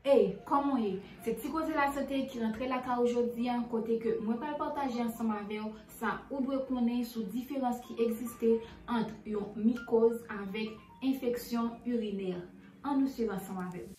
Hey, kòman w ye? Se Ti Koze Lasante ki rantre lakay ou jodi an kote ke mwen pral pataje ansanm avè w sa ou dwe konnen sou diferans ki egziste ant yon mikoz avèk enfeksyon irinè. An nou swiv ansanm avè m.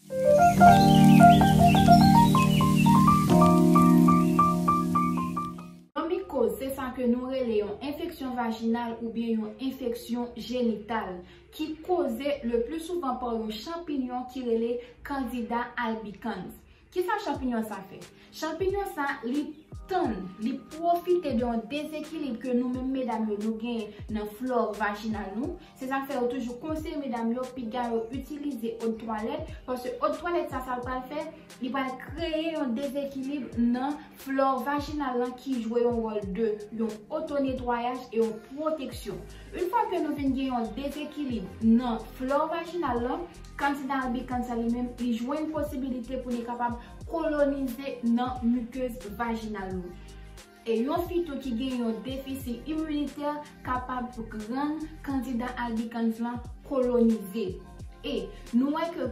Yon mikoz se sa ke nou rele yon enfeksyon vajinal oubyen yon enfeksyon jenital. ki koze le pli souvan pa yon chanpinyon ki rele Candida albicans. Kisa chanpinyon sa fè? Chanpinyon sa li tann, li pwofite de yon dezekilib ke nou menm medam yo nou genyen nan flore vajinal nou, se sa k fè yo toujou konseye medam yo piga yo itilize od twalèt, paske od twalèt sa sa l pral fè? Li pral kreye yon dezekilib nan flò vajinal lan ki jwe yon wòl de yon otonetwayaj e yon pwoteksyon. Une fwa ke nou vin gen yon dezekilib nan flò vajinal lan, Candida albicans sa li menm li jwenn posibilite pou li kapab kolonize nan mukeuse vajinal nou. E yon fi tou ki gen yon defisi iminitè kapab rann Candida albicans lan kolonize. E nou wè ke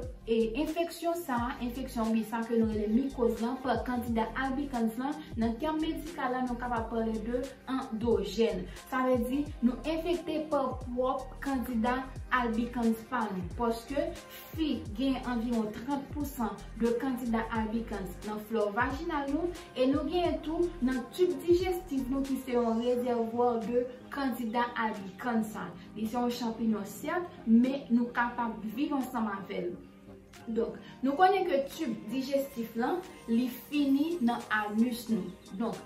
enfeksyon sa a, enfeksyon oubyen sa ke nou rele mikoz lan pa Candida albicans lan, nan tèm medikal la nou kapab pale de andojèn. Sa vle di nou enfekte pa pwòp Candida albicans pa nou. Paske Si gen anviwon 30 pousan de kandida albicans nan flore vaginal nou e nou genyen tou nan tube digestif nou ki se yon reservoir de kandida albicans sa. Li se yon champignon cert men nou kapab viv ansanm avèl. Donk nou konnen ke tube digestif lan li fini nan anus nou. Donk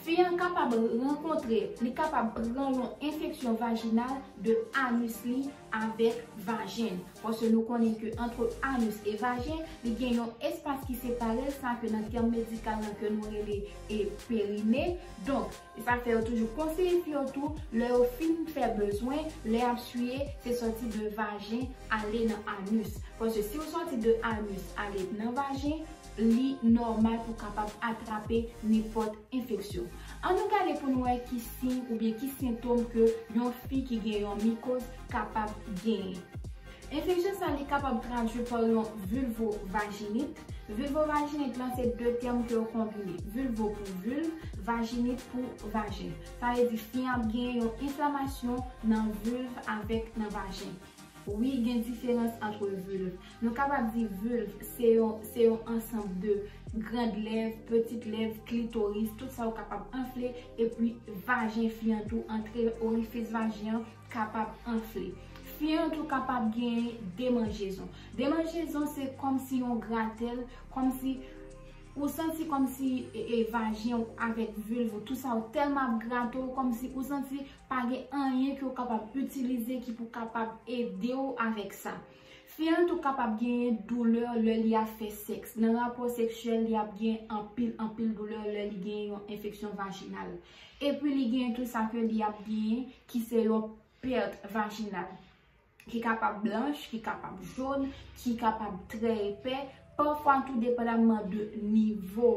fi an kapab rankontre, li kapab pran yon enfeksyon vaginal de anus li. avèk vajen l paske nou konnen ke antre anus e vajen li gen yon espas ki separe l sa ke nan tèm medikal lan ke nou rele e perine donk e sa fè yo toujou konseye fi yo tou lè yo fin fè bezwen lè yap siye se sòti de vajen ale nan anus paske si w sòti de anus ale nan vajen Li nòmal pou kapab atrape nenpòt enfeksyon. An nou gade pou nou wè ki siy oubyen ki sentom ke yon fi ki gen yon mikoz kapab genyen. Enfeksyon sa li kapab tradwi pa yon vulvovajinit. Vulvovajinit lan se 2 tèm ke yo konbine. Vulvo pou vulve, vajinit pou vajen. Sa vle di fi an ap genyen yon enflamasyon nan vulve avèk nan vajen. Wi gen diferans antre vulve. Nou kapab di vulve se yon se yon ansanb de grand lèv, petit lèv, klitoris, tout sa ou kapab anfle epi vajen fi an tou antre orifis vajen an kapab anfle. Fi an tou kapab genyen demanjezon. Demanjezon se kòm si yon gratèl, kòm si ou santi kòm si e vajen ou avèk vulve ou tout sa ou tèlman ap grate ou kòm si ou santi Pa gen anyen ke w kapab itilize ki pou kapab ede w avèk sa. Fi an tou kapab genyen doulè lè li ap fè sèks. Nan rapò seksyèl li ap gen anpil anpil doulè lè li gen yon enfeksyon vajinal. Epi li gen tou sa ke li ap genyen ki se yon pèt vajinal. ki kapab blanch, ki kapab joun, ki kapab trè epè, pafwa tou depandaman de nivo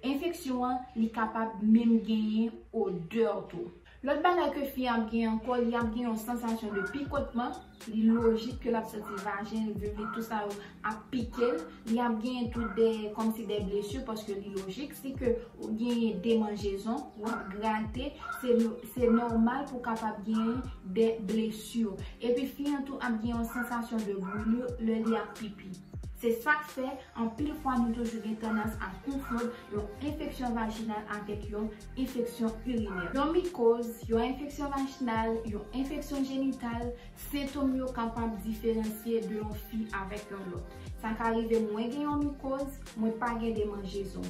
enfeksyon an, li kapab menm genyen odè tou. Lòt bagay ke fi an ap genyen ankò, li ap gen yon sansasyon de pikotman, li lojik ke l ap santi vajen l, vilv li, tou sa yo ap pike l, li ap genyen tou de kòmsi de blesu paske li lojik si ke ou genyen demanjezon ou ap grate se nòmal pou kapab genyen de blesu epi fi an tou ap gen yon sansasyon de brulu lè li ap pipi se sak fè anpil fwa nou toujou gen tandans a konfond yon enfeksyon vajinal avèk yon enfeksyon irinè. Yon mikoz, yon enfeksyon vajinal, yon enfeksyon jenital, Sentom yo kapab diferansye de yon fi avèk yon lòt. Sa ka rive mwen gen yon mikoz, mwen pa gen demanjezon.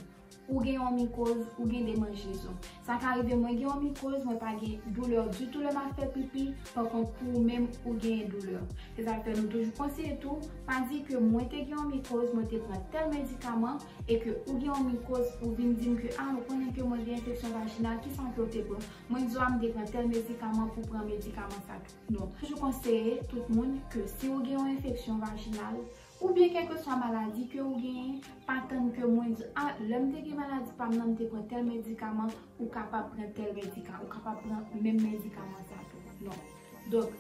Ou gen yon mikoz, ou gen demanjezon. Sa ka rive mwen gen yon mikoz, mwen pa gen doulè ditou lè m ap fè pipi, pa kont pou ou menm, ou genyen doulè. Se sa k fè nou toujou konseye tou, pa di ke mwen te gen yon mikoz, mwen te pran tèl medikaman, e ke ou gen yon mikoz, ou vin di m ke a ou konnen ke mwen gen enfeksyon vajinal, kisa ke ou te pran? Mwen di w a m te pran tèl medikaman pou pran medikaman sa. Nou toujou konseye tout moun ke si ou gen yon enfeksyon vajinal oubyen kèlkeswa maladi ke ou genyen, pa tann ke moun di, ah lèm te gen maladi pam nan m te pran tèl medikaman, ou kapab pran tèl medikaman, ou kapab pran menm medikaman sa tou. Non. Donk,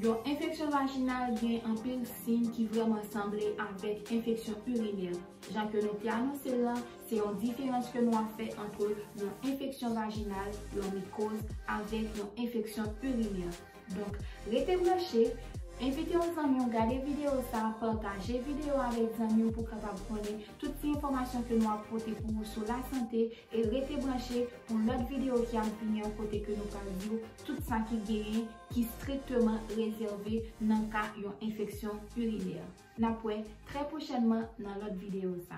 yon enfeksyon vajinal gen anpil siy ki vrèman sanble avèk enfeksyon urinè, jan ke nou te anonse l lan, Se yon diferans ke nou ap fè antre yon enfeksyon vajinal, yon mikoz, avèk yon enfeksyon urinè. Donk, rete branche, envite yon zanmi w gade videyo sa, pataje videyo a avèk zanmi w pou kapab konnen tout ti enfòmasyon ke nou ap pote pou ou sou lasante e rete branche pou lòt videyo ki ap vini an kote ke nou pral di w tout sa ki genyen ki strikteman rezève nan ka yon enfeksyon urinè. Nap wè trè pwochènman nan lòt videyo sa.